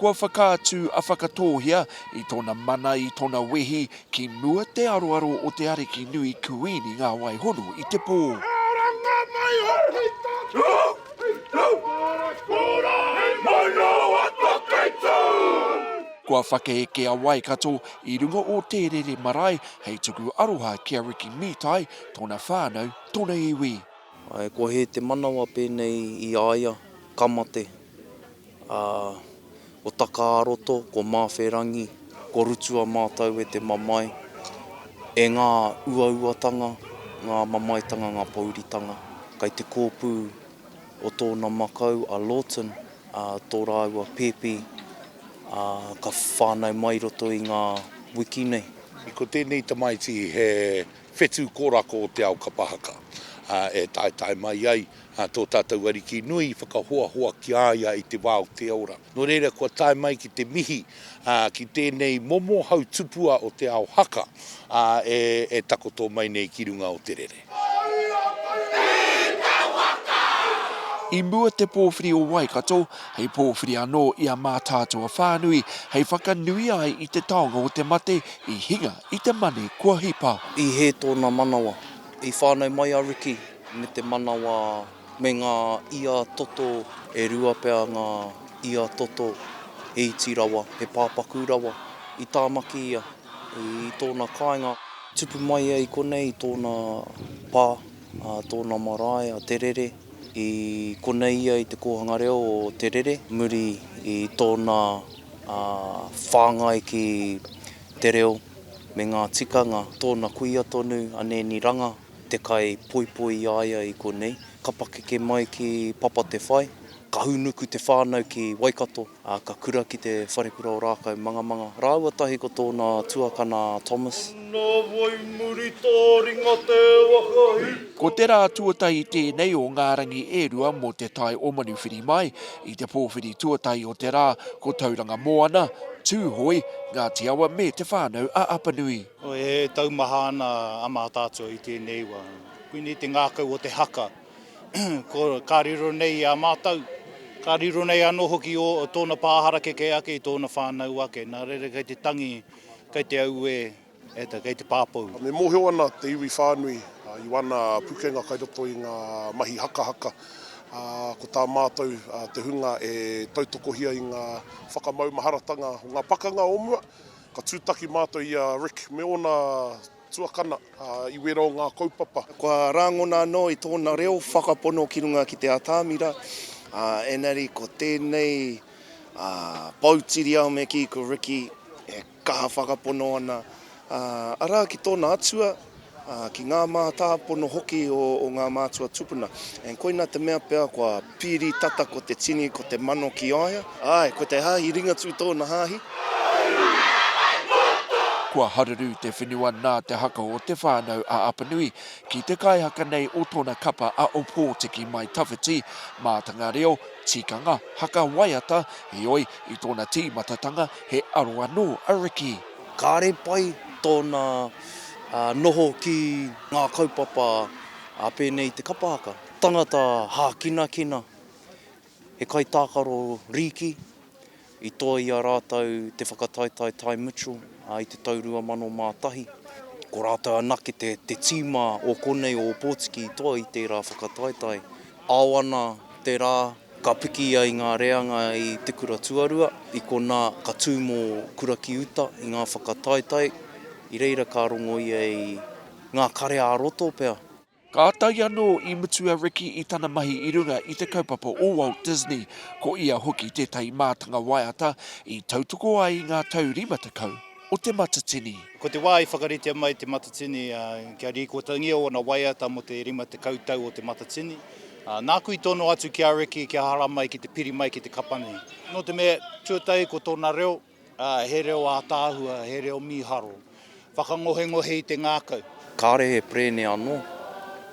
Kua whakaatu a Whakatōhea i tōna mana, i tōna wehi ki mua te aroaro o te ariki nui Kuini Ngāwaihono i te pō. Kua whakaeke a Waikato i runga o Tērere marae hei tuku aroha ki a Riki Mītai, tōna whānau, tōna iwi. Ae, kua hē te manawa pēnei i a ia, ka mate. Ā, ko Taka-ā-roto, ko Māwherangi, ko Rutu-a-mātau-e te mamae, e ngā uauatanga, ngā mamaetanga, ngā pōuritanga. Kai te kōpū o tōna makau a Lawton, ā, tō rāua pēpi, ā, ka whānau mai i roto i ngā wiki nei. Ko tēnei tamaiti he. whetū kōrako o te ao kapa haka, ā, e taetae mai ai tō tātou Ariki nui i whakahoahoa ki a ia i te wā o te ora. Nō reira, kua tae mai ki te mihi ki tēnei momo hautupua o te ao haka, ā, e takoto mai nei ki runga o te rere. I mua te pōwhiri o Waikato hei pōwhiri anō i a Mātaatua whānui hei whakanuia ai i te taonga o te mate i hinga i te mani kua hipa. I hē tōna manawa. I whānau mai a Riki me te manawa me ngā ia toto. E rua pea ngā ia toto, he iti rawa, he pāpaku rawa. I Tāmaki ia, i tōna kāinga. Tupu mai ia i konei i tōna pā, a tōna marae a Te Rere. I konei ia i te kōhanga reo o Te Rere muri i tōna whāngai ki. te reo me ngā tikanga tōna kuia tonu a Nēni Ranga te kai poipoi i a ia i konei. Ka pakeke mai ki Papa Te Whai, ka hūnuku te whānau ki Waikato, ā, ka kura ki te wharekura o Rākau Mangamanga rāua tahi ko tōna tuakana a Thomas. Nā wai muri tā ringa te waka hī. Ko te rā tuatahi tēnei o ngā rangi e rua mō te tae o Manuwhiri mai, I te pōwhiri tuatahi o te rā, ko Tauranga Moana, Tūhoe, Ngāti Awa me Te Whānau-a-Apanui. E taumaha ana a Mātaatua i tēnei wa. Koinei te ngākau o te haka. Ka riro nei i a mātou, ka riro nei anō hoki o tōna pā harakeke ake i tōna whānau ake. Nā reira kei te tangi, kei te auē. E te, kei te pāpou. Me mōhio ana te iwi whānui i wāna pukenga kai roto i ngā mahi hakahaka, ā, ko tā mātou te hunga e tautokohia i ngā whakamaumaharatanga o ngā pakanga o mua, ka tūtaki mātou i a Rick me ōna tuakana i wera o ngā kaupapa. Kua rāngona anō i tōna reo whakapono ki runga ki te atamira, ā, engari ko tēnei, ā, poutiriao me kī, ko Ricky, e. Kaha whakapono ana, arā, ki tōna atua, ki ngā mātāpono hoki o ngā mātua tupuna. And koina te mea pea kua pīri tata ko te tini, ko te mano ki a ia. Āe, ko te hāhi Ringatū tōna hāhi. Kua haruru te whenua nā te haka o Te Whānau a Apanui ki te kaihaka nei o tōna kapa a Opotiki Mai Tawhiti, mātanga reo, tikanga, haka waiata, heoi, i tōna tīmatatanga, He aro anō a Ricky. Kāre pai tōna noho ki ngā kaupapa a pēnei te kapa haka. Tangata hākinakina, he kaitākaro rīki, i toa i a rātou te whakataetae Ty Mitchell i te tau 2001. Ko rātou anake te tīma o konei o Ōpōtiki i toa i tērā whakataetae. Ao ana te rā. Ka piki ai ngā reanga i Te Kura Tuarua, i konā ka tū mō Kura ki uta i ngā whakataetae, i reira ka rongo ia i ngā kare-ā-roto pea. Kātahi anō i mutu a Ricky i tana mahi i runga i te kaupapa o Walt Disney, ko ia hoki tētahi mātanga waiata i tautoko ai i ngā tau rima tekau o Te Matatini. Ko te wā i whakaritea mai Te Matatini kia rīkotangia ōna waiata mō te rima tekau tau o Te Matatini, Nāku i tono atu ki a Riki kia hara mai ki te piri mai ki te kapa nei. Nō te mea, tuatahi ko tōna reo, he reo ātaahua, he reo mīharo. Whakangohengohe i te ngākau. Kāre he perēne anō,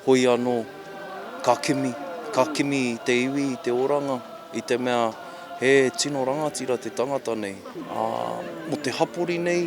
hoi anō, ka kimi, ka kimi i te iwi, i te oranga, i te mea he tino rangatira te tangata nei, ā, mō te hapori nei,